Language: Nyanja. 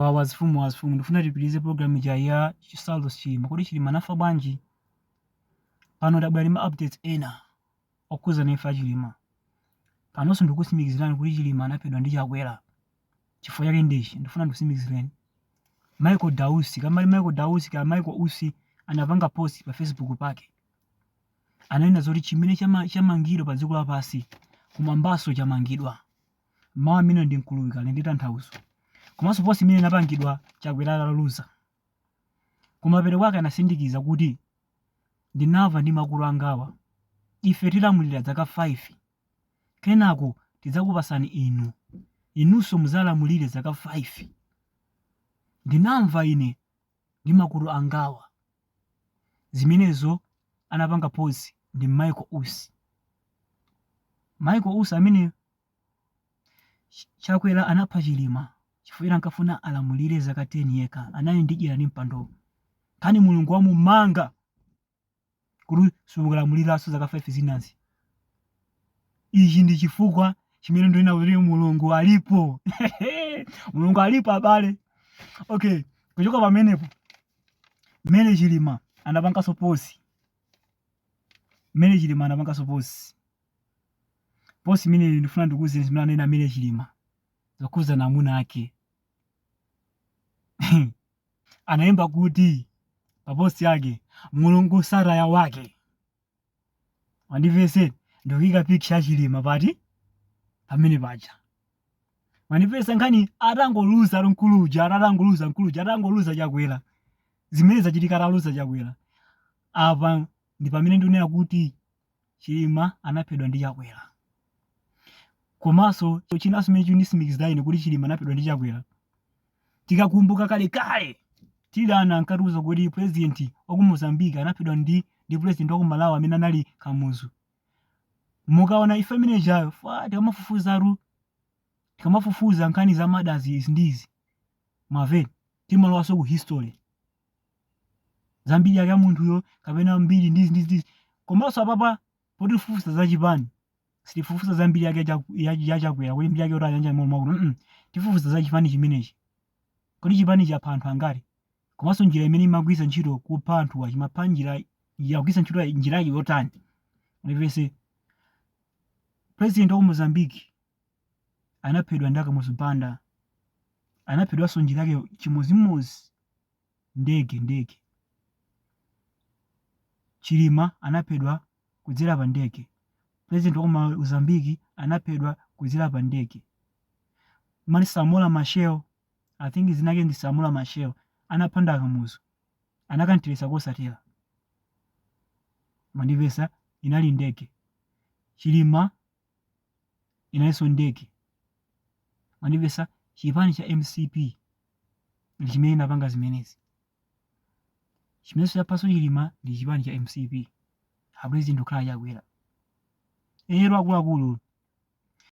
Wow, azifumu azifumu ndifuna tipitirize program ija ya Saulos Chilima. Kodi Chilima anafa bwanji? Pano tabwera ndi ma updates ena okhudzana imfa ya Chilima. Panonso ndikusimikizirani kuti Chilima anaphedwa ndi Chakwera. Chifukwa chake ndichi ndifuna ndikusimikizireni. Michael Dausi, kaya Michael Dausi kaya Michael Usi anapanga post pa Facebook pake. Ananena zoti chimene chama, chamangidwa pa dziko lapansi kumwambaso chamangidwa. mawu amenewa ndi mkuluwiko ali ndi tanthauzo komanso post imene inapangidwa Chakwera ataluza. Kumapeto kwake anasindikiza kuti, Ndinamva ndi makutu angawa. Ife tilamulira zaka 5. Kenako tidzakupatsani inu. Inunso mudzalamulire zaka 5. Ndinamva ine ndi makutu angawa zimenezo anapanga post ndi Michael Usi Michael Usi amene Chakwera anapha Chilima chifukwa ankafuna alamulire zaka 10 yekha anali ndi dyera ndi mpando kani mulungu wamumanga kuti sukulamuliranso zaka 5 zinazi ichi ndi chifukwa chimene ndinena kuti mulungu alipo mulungu alipo abale okay kuchoka pamenepo mary chilima anapanganso post mary chilima anapanganso post post imene ndifuna ndikuuzeni zimene anena mary chilima zokhuzana ndi amuna ake analemba kuti pa post yake mulungu sataya wake mundimvetse ndikuyika picture yachilima pati pamene paja mundimvetse nkhani atangoluza mkuluja atangoluza mkuluja atangoluza chakwera zimenezo zachitika ataluza chakwera apa ndi pamene ndinena kuti Chilima anaphedwa ndi Chakwera. Komanso chinanso chimene chikunditsimikizira ine kuti Chilima anaphedwa ndi Chakwera. Tikakumbuka kalekale tili ana ankatiuza kuti president wa ku Mozambique anaphedwa ndi ndi president wa ku Malawi amene anali Kamuzu. Mukaona ife amene jayo fa tikamafufuza ru tikamafufuza nkhani za ma death izi ndi izi. Mwamva eti timalowanso ku history. za mbiri yake ya munthuyo kapena mbiri ndizi ndizi ndizi komanso apapa potifufuza za chipani sitifufuza za mbiri yake ya Chaku- ya- ya chakwera kuti mbiri yake kuti ayanja molo makuno mm tifufuza za chipani chimenechi kodi chipani chapha anthu angati komanso njira imene imagwiritsa ntchito kupha anthuwa chimapha njira yakugwiritsa ntchito ya- njira yake yotani mundimvetse president wa ku mozambique anaphedwa ndi akamuzu banda anaphedwanso njira yake chimodzimodzi ndege ndege chilima anaphedwa kudzera pa ndege president wa ku mozambique anaphedwa kudzera pa ndege mali samora machel i think dzina lake ndi samora machel anapha ndi a kamuzu anakanthirisa kosatera mandivesa inali ndege chilima inalinso ndege mandivesa chipani cha mcp ndi chimene chinapanga zimenezi. Chimenenso chaphanso Chilima ndi chipani cha mcp. A President akukhala Chakwera. Lero akuluakulu